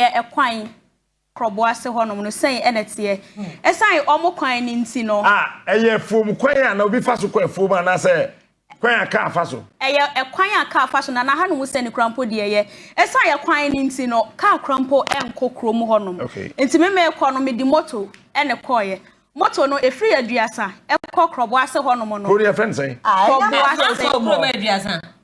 yɛ ɛkwan korɔbo ase hɔnom no sɛn ɛna teɛ ɛsan ɔmo kwan ne nti no. a ɛyɛ afuom kwan a na obi fa so kɔ afuom anaasɛ kwan a kaa fa so. ɛyɛ ɛkwan a kaa fa so na n'aha no ho sɛ ne kura mpo deɛ yɛ ɛsan yɛ kwan ne nti no kaa kura mpo ɛnkɔ kurom hɔnom okay. nti me mee kɔ no me di moto ɛne kɔɔyɛ moto no efiri yɛ aduasa ɛkɔ korɔbo ase hɔnom no. kuro no yɛ fɛn sɛn. korɔbo ase.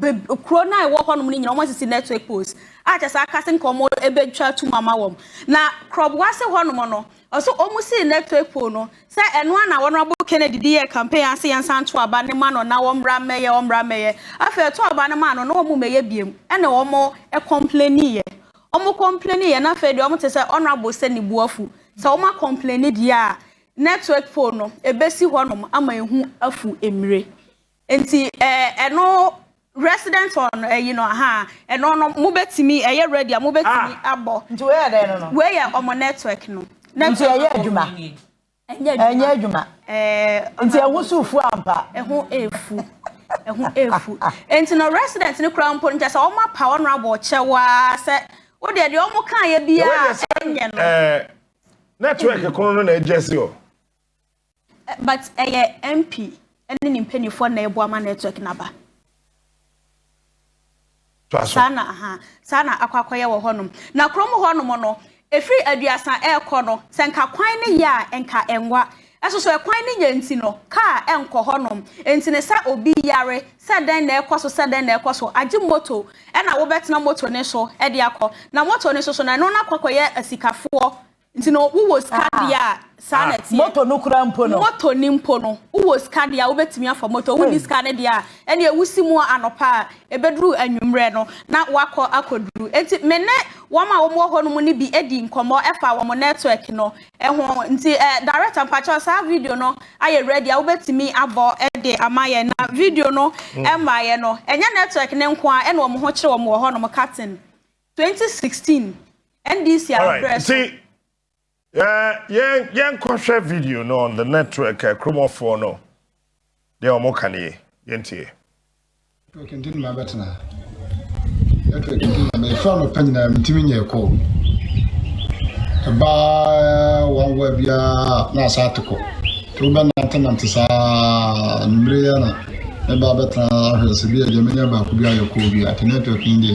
bɛ kuro no a ɛwɔ hɔnom no nyinaa wɔasisi network poles a kyɛ sɛ aka sɛ nka wɔn ɛbɛtwa atum ama wɔn na korɔboa se hɔnom no ɔso wɔn sii network pole no sɛ ɛno a na Honourable Kennedy de yɛɛ campaign ase yɛnsa nto aba no ma no na wɔmmra mmɛyɛ wɔmmra mmɛyɛ afei ɛto aba no maa no na wɔn mmɛyɛ biem ɛna wɔn ɛcomplainiiɛ wɔn complainiiɛ na afei deɛ wɔn te sɛ Honourable sɛ ne bu afu sɛ wɔn acomplaini deɛ a network pole no ɛbɛsi hɔnom ama ehu afu mmire. Nti eh, ɛno resident hɔ no ɛyi no aha ɛno no mo betumi ɛyɛ ready a mo betumi ah. abɔ. Nti wei yɛ dɛn no no. Wei yɛ ɔmo network no. Nti ɛyɛ adwuma. Ɛnyɛ adwuma. Ɛɛ. Nti ɛho so fu ampa. Ɛho efu. Ɛho efu. Nti no resident no kura mpo nkyɛ sɛ ɔmo apa ɔno abɔ ɔkyɛwaa sɛ o deɛ deɛ ɔmo kan yɛ biara ɛnyɛ no. Ɛɛ network kono no na ɛgyɛ si o. But ɛyɛ MP ne ne mpaninfoɔ na ɛboa ma network no aba. Saa na aha saa na akɔ akɔyɛ wɔ hɔnom. Na kurom hɔnom no ɛfiri aduasa ɛrekɔ no sɛ nka kwan no yɛ a nka ɛnwa. Ɛso so ɛkwan no yɛ nti no kaa ɛnkɔ hɔnom. Nti no sɛ obi yare sɛ dɛn na ɛkɔ so sɛ dɛn na ɛkɔ so agye moto ɛna wobɛtena moto no so ɛde akɔ. Na moto no so so no ɛno no akɔ akɔyɛ asikafoɔ Nti no wo wɔ sika deɛ a saa na ɛteɛ. Motor no koraa mpo no. Motor no mpo no wo wɔ sika deɛ a wo bɛtumi afa motor wo nni sika no deɛ a ɛneɛ wo si mu anɔpa a ɛbɛduru anwummerɛ no na woakɔ akɔduru nti me ne wɔn a wɔn wɔ hɔ nom no bi di nkɔmmɔ ɛfa wɔn network no ho nti eh director mpakyɛw saa video no ayɛ ready a wo bɛtumi abɔ de ama yɛn na video no ɛmmaeɛ no ɛnyɛ network no nko a ɛna wɔn ho kyere wɔn wɔ hɔ nom Katin Twenty sixteen NDC afrɛ so. Nti yɛn yɛn kɔhwɛ video no on the network eh, kuromɔfoɔ no deɛ wɔn ka nie yɛn tie. Network nti na mabɛtena network nti na mɛfra anɔpa nyinaa mentumi nyɛ kɔ ɛbaa wawa biara na asa ate kɔ nti wobɛnantenante saa anumere yɛ na mɛba bɛtena ahwɛ sɛ bi a deɛ mɛnya baako bi ayɛ kɔɔ bi a nti network yi deɛ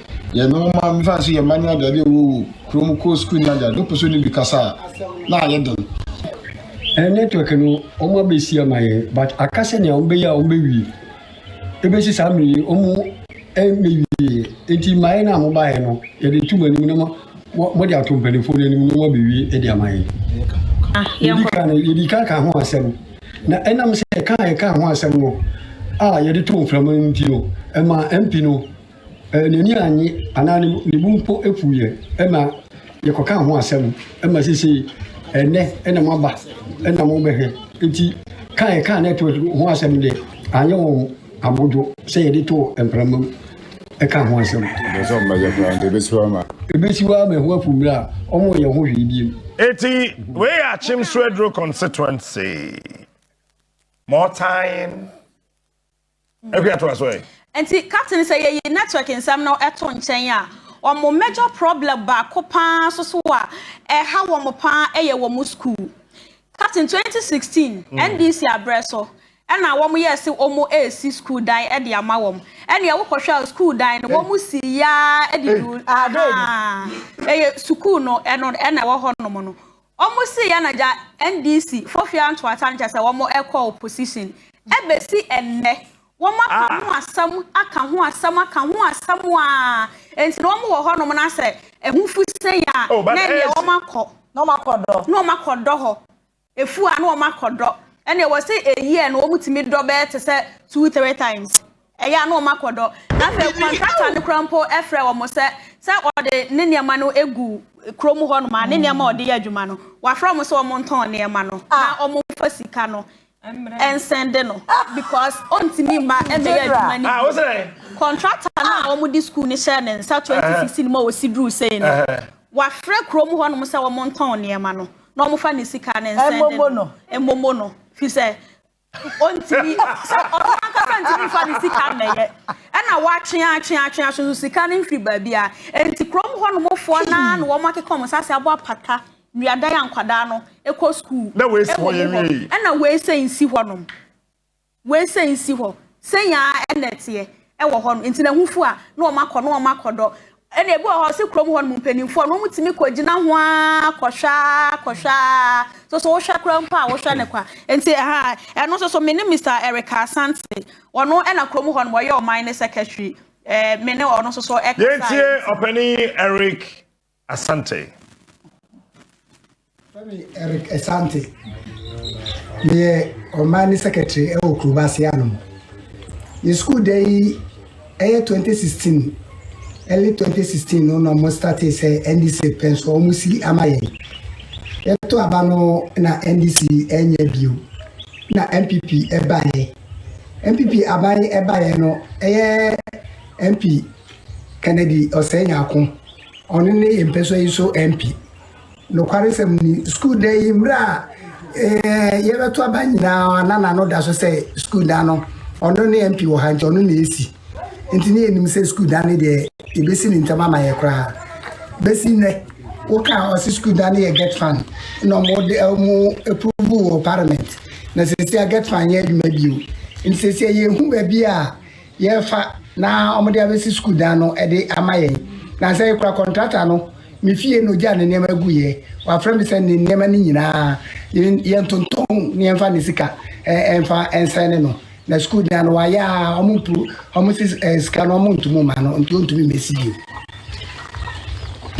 Yɛne wɔn ma mefa no so yɛ mma ne agya de wɔ wɔ kurom kɔ sukuu ne agya de ɔpɛ so ne bi kasa a na ayɛ den. Ɛn network no wɔn abɛsi ama yɛn but aka sɛnea wɔn bɛyɛ a wɔn bɛwie ɛbɛsi saa mmerɛ yi wɔn mmɛwie nti mmaeɛ no a mo baeɛ no yɛde to mo anim na mo mo de ato mpanimfoɔ no anim na wɔn abɛwie de ama yɛn. Yɛdi kan no yɛdi kan ka ho asɛm na ɛnam sɛ ɛka a yɛka ho asɛm no a yɛde to mframa no nti no ɛma MP no N'ani annye anaa ne bo mpo fuu yɛn ma yɛkɔkaa ho asɛm ma seesei ɛnnɛ na moaba na mobɛhwɛ. Enti kaa a yɛkaa na ɛtoo so ho asɛm deɛ, anyɛ wɔn abodwo sɛ yɛde too mprama mu kaa ho asɛm. Ɛbɛyɛ sɛ wɔbɛyɛ koraa nti ɛbɛsiw ama. Ɛbɛsiw ama ɛho afu mmere a wɔnyɛ ho hwee bio. Enti wei yɛ Akyem Swedru Constituency, Mortain Ɛhwɛ atoa so ɛ. Nti captain sɛ yɛyi network nsɛm no to nkyɛn a, wɔn major problem baako paa nso so a ɛha wɔn paa yɛ wɔn school. Captain 2016 NDC abrɛ so na wɔn yɛɛ se wɔn resi school dan de ama wɔn. Ɛneɛ wo kɔhwɛ a school dan no wɔn si yaa de du ahaa ɛyɛ sukuu no ɛno ɛna ɛwɔ hɔ nom no. Ɔmo see yɛn agya NDC fo hwea ntoa tankyɛ sɛ wɔmo ɛkɔ opposition. Ɛbesi ɛnnɛ wɔmo aka ho asɛm aka ho asɛm aka ho asɛm aa enti na wɔmo wɔ hɔ nom na sɛ ɛhofi sɛn aa na ɛnneɛ wɔmo akɔ Na wɔmo akɔ dɔ. na wɔmo akɔ dɔ hɔ. Ɛfu aa na wɔmo akɔ dɔ. Ɛnneɛ wɔse a year no wɔmo tumi dɔ bɛyɛ te sɛ two three times. Ɛyɛ a na wɔn akɔ dɔ, na afei kɔntrakta no koraa mpo frɛ wɔn sɛ sɛ ɔde ne nneɛma no gu kurom hɔnom a, ne nneɛma a ɔde yɛ adwuma no, wafrɛ wɔn sɛ wɔn ntɔn nneɛma no na wɔn mfa sika no nsɛnde no because ɔntumi mma mmɛyɛ adwuma no bio. Kɔntrakta no a wɔde sukuu no hyɛɛ ne nsa 2016 mu a wɔsi duru sei no, wafrɛ kurom hɔnom sɛ wɔn ntɔn nneɛma no na wɔmfa ne sika no nsɛnde no, mmomo no, firi sɛ Ɔntumi, sɛ ɔno ankasa ntumi mfa ne sika mmɛyɛ, ɛna wɔatwe atwe atwe atwe so sika no mfiri baabi a, enti kurom hɔnom foɔ no ara na wɔn akeka wɔn nsaase abɔ apata nnuadan a nkwadaa no kɔ sukuu Na wei si hɔ wɔ mu hɔ, yɛnwie yi. ɛna wei sɛ nsi hɔnom, wei sɛ nsi hɔ, sɛn ara ɛna ɛteɛ ɛwɔ hɔnom, enti n'ahufoɔ a na wɔn akɔ na wɔn akɔdɔ Ɛna ebi wɔ hɔ sɛ kurom hɔ nom mpanimfoɔ no wɔn tumi kɔ gyina ho ara kɔhwɛ ara kɔhwɛ ara soso wohwɛ kora mpo a wohwɛ ne kwa nti ɛha ɛno soso me ne Mr Erica Asante ɔno ɛna kurom hɔ nom ɔyɛ ɔman ne secretary ɛɛ me ne ɔno soso ɛkasa yɛntie ɔpanin Eric Asante. Mefrɛ me Eric Asante. Meyɛ ɔman ne secretary wɔ Kuroba ase anom. Yɛ sukuu da yi ɛyɛ 2016 early 2016 no na wɔn startee sɛ NDC pɛ nso wɔn si ama yɛn. Yɛto aba no na NDC ɛnyɛ bio na NPP ɛbaeɛ. NPP aban ɛbaeɛ no ɛyɛ MP Kennedy Ɔsɛe Nyako ɔno ne yɛn mpɛsɔ yi so MP. Nokwaresɛm ni, sukuu dan yi mmerɛ a eh, yɛbɛto aba nyinaa na n'ano da so sɛ sukuu dan no ɔno ne mp wɔ ha nti ɔno na ɛsi nti ne yɛnim sɛ sukuu dan no deɛ yɛbɛsi ne ntam ama yɛ koraa bɛsi nnɛ woka ɔse sukuu dan no yɛ get fan na ɔmode ɔmo approve wɔ parliament na sɛsi a get fan yɛ adwuma bio nti sɛsi a yɛhu baabi a yɛfa na wɔde abɛsi sukuu dan no de ama yɛn. Na sɛ yɛkura kɔntrata no, me fie na ogyaa ne nneɛma guiɛ. Wafrɛ me sɛ ne nneɛma no nyinaa yɛntontɔn na yɛmfa ne sika ɛmfa ɛnsɛn ne no. Na sukuu dan no wayɛ a wɔn mpu wɔn si sika no wɔn ntumi ma no nti wɔntumi mmɛsi bio.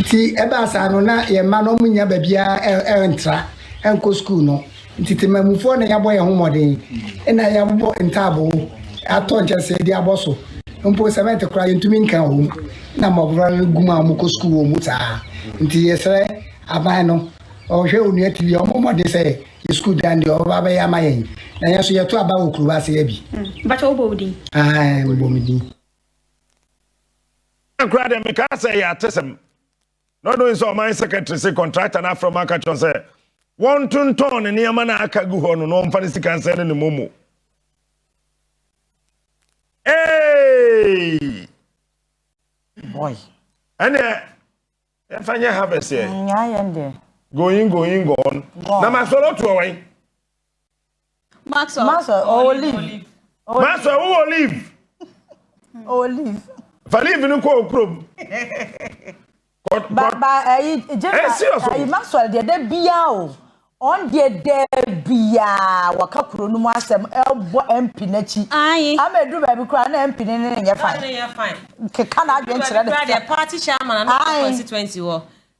Nti ɛbaa saa no na yɛn mma no wɔn nya baabi a ɛntra ɛnkɔ sukuu no. Nti temammufoɔ na yɛabɔ yɛn ho mmɔden na yɛabobɔ ntaaboo atɔ nkyɛsee de abɔ so. Mpo sɛmɛnte koraa yɛntumi nka wɔ mu na mmɔfra no gu mu a wɔkɔ sukuu wɔ mu saa. Nti yɛsrɛ aban no, ɔhwɛ Onua TV a, ɔmmɔ mmɔden sɛ yɛn sukuu dan deɛ ɔbɛba abɛyɛ ama yɛn. Na yɛn nso yɛto aba wɔ Kurobo ase ha bi. Mpakyɛ wobɔ wo din? Aane mebɔ me din. Ɛyɛ koraa deɛ mekaa sɛ ɛyɛ atesɛm. na ɔdɔ nso ɔman secretary se contractor no afrɛ ɔmo aka kyerɛ sɛ wɔntontɔn ne nneɛma no a aka gu hɔ no na ɔmfa ne sika nsɛn ne ne momo Hey! Boy. ɛneɛ yɛmfa nyɛ harvest ɛ Nyaa yɛn deɛ. going going gone Gone. na masɔre ɔtoɔ wɛn Maxwell, Maxwell, ɔwɔ olive. olive. Maxwell, wowɔ olive. olive. Fa olive no kɔ okurom. Ba ba ɛyi eh, eh, gyina eh, ɛyi Maxwell deɛ dɛ bia o. Ɔn deɛ dɛ bia wɔka kuro no mu asɛm ɛbɔ MP n'akyi. Ayi. Ama edu baabi koraa na MP ne ne ne nyɛ fine. Keka na adwene kyerɛ ne. Kura deɛ party chairman na constituency wɔ.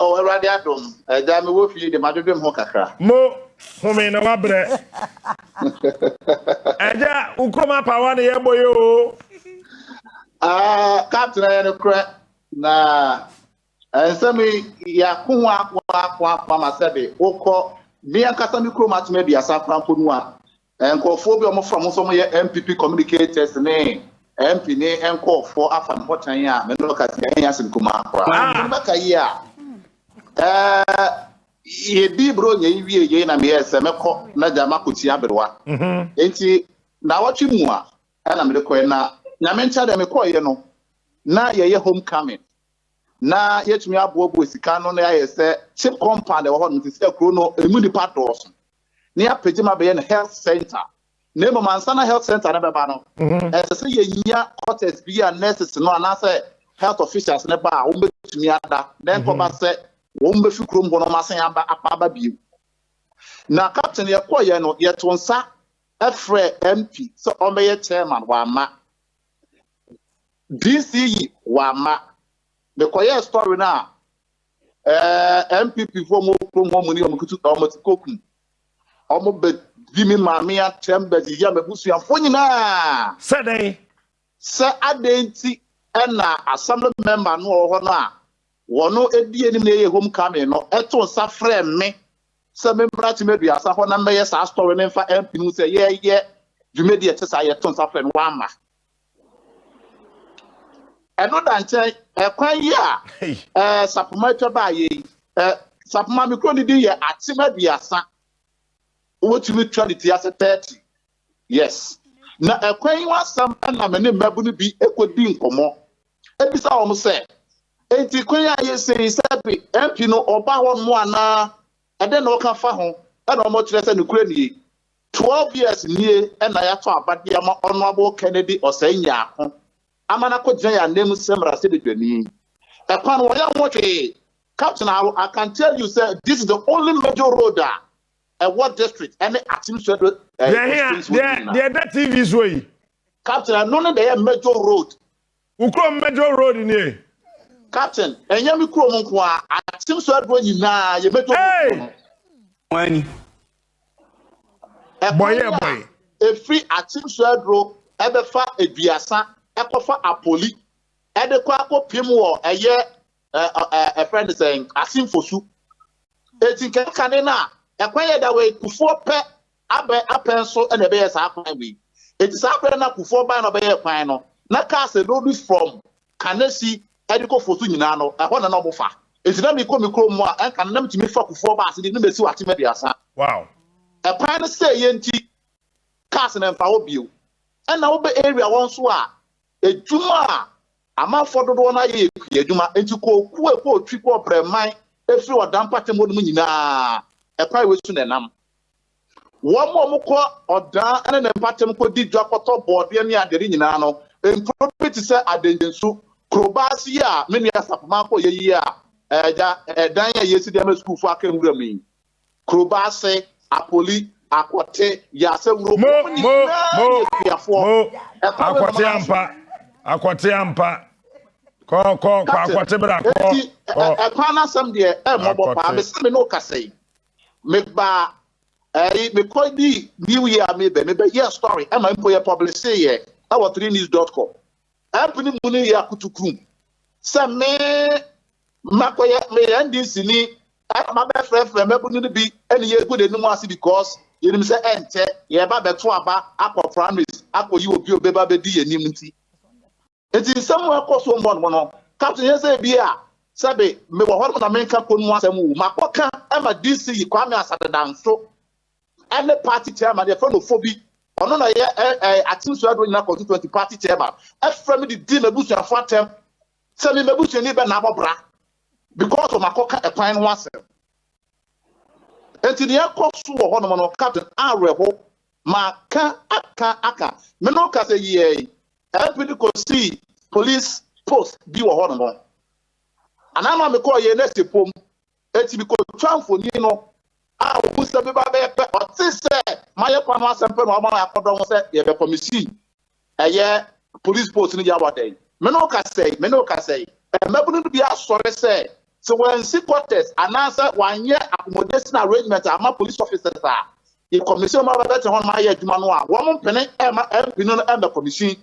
Oh Awurade adom, agya me wɔ fie de madwedwem ho kakra. Mo home na wabrɛ. Agya wo kurom apawa na yɛbɔ yɛ o. Ah, captain ayɛ no korɛ na nsɛm yɛako ho ako ako ako ama sɛ de wokɔ me ankasa me kurom atoma aduasa korampo no a Nkurɔfoɔ bi a wɔfrɛ wɔn sɛ wɔyɛ NPP communicators ne MP ne nkurɔfoɔ afa me hɔ tan a me ne wɔkasa yi ɛnyɛ asɛm kumaa koraa. Sɛ mobɛka yie a, yɛdii berɛ ɔnya yi wie yei na meyɛɛ sɛ mɛkɔ na gya makɔtua aberewa. Enti naawɔtwe mu a ɛna mede kɔɛ na nyame nkyɛ deɛ mekɔeɛ no na yɛyɛ home coming na yɛtumi aboaboa sika no na yɛayɛ sɛ cheap compound ɛwɔ hɔ nom te sɛ kuro no ɛmu nnipa dɔɔso. na yɛapagya mu abɛyɛ no health centre, na mmom ansa na health centre no bɛba no, ɛsɛ sɛ yɛnya quarters bi a nurses no anaasɛ health officials no ba a wɔbɛtumi ada, na ɛnkɔba sɛ wɔbɛfi kurom hɔ na wɔasan aba apa aba bio. Na captain yɛkɔeɛ no, yɛto nsa frɛɛ MP sɛ ɔmmɛyɛ chairman, wamma. DC yi, wamma. Mekɔyɛɛ story no a, Ɛɛ NPP fo ɔmo kurom hɔ ɔmo ni ɔmo kutu ɔmo ti kokum ɔmo bɛ di mi maame atɛm bɛ di yɛ m'abusuafo nyinaa. Sɛ dɛn? Sɛ adɛn nti na assembly member no a ɔwɔ hɔ no a wɔn edi anim na ɛyɛ home coming no to nsa frɛ me sɛ memmra Tema Aduasa hɔ na mmɛyɛ saa story no mfa MP no ho sɛ yɛyɛ dwumadi a ɛte saa yɛto nsa frɛ no wamma. ɛno da nkyɛn ɛkwan yi a ɛɛ sapoma atwa baa yɛ yi ɛɛ sapoma mi kuro ne din yɛ atem aduasa wotumi twa ne ti ase thirty yes na ɛkwan yi ho asɛm ɛna me ne mmɛbo no bi ekodi nkɔmɔ ebisa wɔn sɛ eti kwan a yɛsɛ yi sɛ bi mp no ɔba hɔ nom anaa ɛdɛ na ɔka fa ho ɛna wɔn kyerɛ sɛ ne kura nie Twelve years nie na yɛato aba de ama Honourable Kennedy Osei Nyarko ama no akɔgyina yɛn ananmu sɛ mmarahyɛbadwani. Ɛkwan wɔ yɛn ho hwee. Captain Aroh, I can tell you sɛ this is the only major road a ɛwɔ district ɛne Akyem Swɛdɛ districts hɔ nyinaa. Deɛ ɛda TV soɔ yi. Captain, ɛno ne deɛ ɛyɛ major road Wo kurom Major road nie? Captain, ɛnyɛ me kurom nko ara, atem so aduro nyinaa yɛ Major road wɔ no. Wɔn ani. Ɛkwan yi a ɛfiri atem so aduro ɛbɛfa aduasa ɛkɔfa apoli ɛde kɔ akɔpem wɔ ɛyɛ ɛfrɛ ne sɛ asemfosu. Eti nka kane no a ɛkwan yɛ da wei kufoɔ pɛ Abɛn apɛn so na ɛbɛyɛɛ saa kwan wei. Enti saa berɛ no na Kufuor baeɛ na ɔbɛyɛɛ kwan no, na cars a ɛload from Kanesi de kɔ Fosu nyinaa no, ɛhɔ na na wɔfa. Enti na mekɔ me kurom a, ɛnka no na metumi fa Kufuor ba Asidi na masiw atem aduasa. Wow! Ɛkwan no sɛeɛ nti, cars no mfa hɔ bio. Ɛnna wobɛ area hɔ nso a, Adwuma a amanfoɔ dodoɔ no ara yɛ yɛ kuadwuma, enti kookuo a ɛkɔɔ Twi, kɔɔ Brɛman, firi Ɔda mpɔtam hɔnom nyinaa, ɛkwan wei so na ɛnam. Wɔn a wɔkɔ Ɔda ne ne mpɔtam kɔdi dwa kɔtɔ bɔɔdeɛ ne adeade nyinaa no, nkuro bi te sɛ Adangyensu, Kurobase yi a me nua Sapoma kɔeɛ yi a, ɛdan a yɛresi de ama sukuufoɔ aka nwuram yi, Kurobase, Apoli, Akwɔte, Yasawuro, Mo, wɔn mo, nyinaa mo, yɛ suafoɔ. mo. Ɛkɔ me Akwɔte mmaa so. ampa. Akwɔte ampa. Kɔ, kɔ, kɔ Captain, akwɔte bra, kɔ, enti ɛ- kɔ. ɛ- ɛkwan no asɛm deɛ ɛmmɔbɔ paa Akɔte. mesɛ me ne wo kasa yi mebaa ɛyi mekɔ di new year a mebɛ mebɛyɛɛ story ɛma mpo yɛ publiseyɛ ɛwɔ 3news.com App no mu no yɛ akutukurum sɛ me makɔyɛ me NDC ni ɛna mabɛfrɛfrɛ mmabunu no bi ɛne yɛgu de nom ase because yɛnim sɛ ɛnkyɛ yɛreba bɛto aba akɔ primaries akɔyi obi a ɔbɛba bɛdi yɛn anim nti. Nti nsɛm a ɛkɔ so mmɔnmɔ no ka to yɛn sɛ ebi a sɛbe mewɔ hɔnom na menka kɔn mu asɛm o, makɔka ma DC Kwame Asare Danso ɛne party chairman yɛfrɛ no Fobi ɔno na yɛ ɛɛ atensuo adoɔ nyina constituency party chairman ɛfrɛ me de di m'abusuafo atɛm sɛ me m'abusuani bɛ na abɔ bra because ɔmo akɔka ɛkwan no ho asɛm nti ne ɛkɔ so wɔ hɔnom no captain awerɛho ma ka aka aka me no ka sɛ yiɛ yi ɛmpi de kɔsi police post bi wɔ hɔnom anaa ma mekɔɔ yɛ nɛsi pom Enti mikotwaa mfoni no a ohuu sɛ meba bɛyɛ pɛ ɔte sɛ mayɛ kwan ho asɛm pɛ na wama yɛakɔdɔ ho sɛ yɛbɛkɔ. Misii ɛyɛ polisi post no yaw adɛn? Me ne wo ka sɛe? Me ne wo ka sɛe? Mmabun no bi asɔre sɛ sɛ wɔansi quarters anaasɛ wɔanyɛ accommodation arrangement amma police officers a yɛkɔ mission ma wɔbɛtena hɔnom ayɛ adwuma no a, wɔmpene mma ɛmpene no mmɛkɔ mission.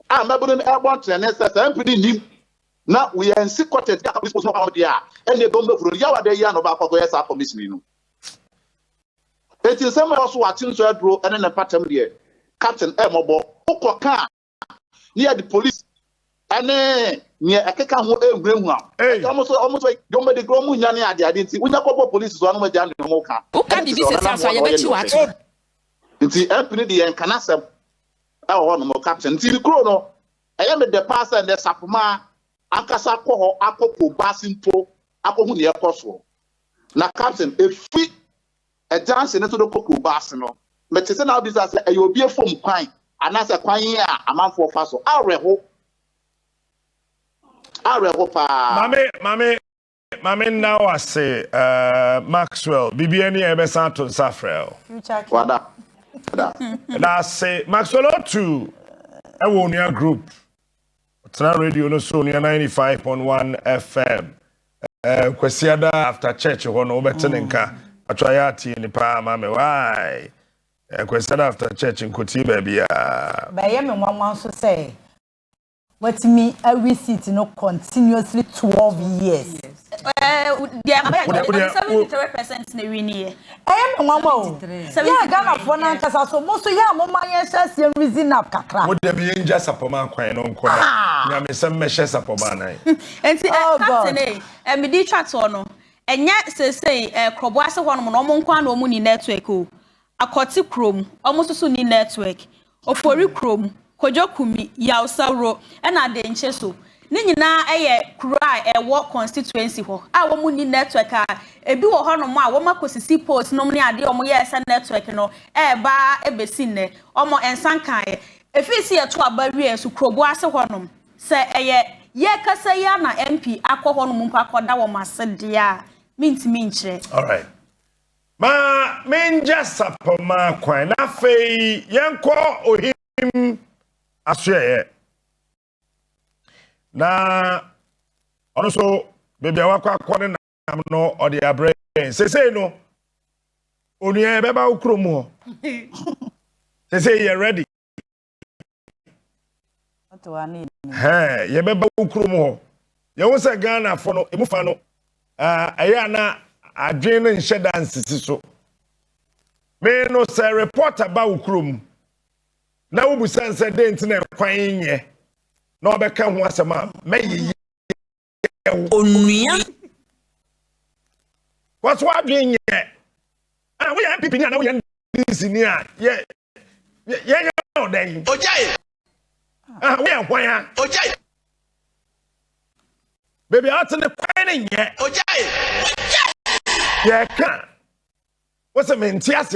a mmabunu no rebɔ ntenene sɛ saa mpini nnim na wɔansi kɔtɛt bi a polisi post no wɔ deɛ a, ɛnneɛ dɔm bɛhuro no. Yaw ada yi a na ɔbaako akɔyɛ saa kɔmihyin yi no. Enti nsɛm a ɛwɔ so wɔ Akyinso aduro ne ne mpatam deɛ, Captain, ɛyɛ mmɔbɔ. Wokɔka a, na yɛde polisi ɛne nea ɛkeka ho nhunahuna. Ɛka wɔn so, wɔn so dwom bɛdi koro, wɔn nya ne adeade nti, wonya kɔbɔ polisi so a na wɔagya nea wɔn reka. Woka biribi sɛsi aso a, yɛbɛkyi wo ato. Nti MP no de yɛn nka n'asɛm ɛwɔ hɔ nom, caption. Nti ne kuro no, ɛyɛ me dɛ paa sɛ nnɛ Sapoma ankasa akɔ hɔ akɔ po baase mpo akɔhu nea ɛkɔ soɔ. Na caption, efi Ɛgyanhye no so no kɔ kurobow ase no, mete sɛ na wobisa sɛ ɛyɛ obi afum kwan anaasɛ kwan yi a amanfoɔ fa so. Awerɛho. Awerɛho paa. Mame, mame, mame nna wo ase, eh, Maxwell, biribiara ni a yɛbɛsan ato nsa afrɛ wo. Richard. Wada. Wada. Ɛda ase. Maxwell Otu ɛwɔ Onua Group. Ɔtena radio no so nua ninety five point one FM ɛɛ Kwasiada after church hɔ no wobɛte ne nka atwa ayɛ atie ni paa ma me wae ɛɛ Kwasiada after church nkotie baabiara. But ɛyɛ me nwanwa nso sɛ watumi awi seat no continuously twelve years. Ɛyɛ me nwanwa o. Yɛ a Ghanafoɔ no ankasa so mo nso yɛ a moma yɛnhyɛ aseɛ nreason up kakra. Mo dabi yɛngya sapɔmaa kwan no nkɔ na nyamesɛm mmɛhyɛ sapɔmaa nan. Nti eh captain ei eh mede twa toɔ no ɛnyɛ seesei eh krɔboase hɔnom no ɔmo nkoaa na ɔmo ni network o Akwɔte kurom, ɔmo nso so nni network. Ofori kurom, Kojo Kumi, Yaw Sawro ɛna Adenkye so. Ne nyinaa yɛ kuro a ɛwɔ constituency hɔ a wɔn nni network a ebi wɔ hɔ nom a wɔn akosisi poles nom ne adeɛ a wɔn yɛɛ sɛ network no ɛɛba ara ɛbesi nnɛ wɔn ɛnsan kaeɛ. Efiri se yɛto aba wie nso Krobo ase hɔ nom sɛ ɛyɛ yɛɛkasa yi ara na MP akɔ hɔ nom mpo akɔda wɔn ase deɛ a mentumi nkyerɛ. Alright. Ma mengya sapɔmma kwan, na afei yɛnkɔ ohim asoɛeɛ. Na ɔno nso baabi a wakɔ akɔ ne nam no ɔde abrɛ yɛn sesei no onua yɛbɛba wo kurom hɔ sesei yɛ ready yɛbɛba wo kurom hɔ yɛhu sɛ ghanafoɔ no ɛmu fa no ɛyɛ a na adwene no nhyɛ da nsisi so me no sɛ report aba wo kurom na wobusane sɛ dɛn nti na ɛkwan nyɛ na ɔbɛka ho asɛm a mɛyeyɛ yɛ wo. Onua. Wɔso adwene nyɛ. Ɛna ah, woyɛ NPP ni a na woyɛ NDC ni a yɛ yɛ yɛ yɛ ɔdan yi. Ogyae. Ah, woyɛ hwan a. Ogyae. Baby a ɔte ne kwan ne nyɛ. Ogyae. Ogyae. Yɛ ka. Wosɛ mente aseɛ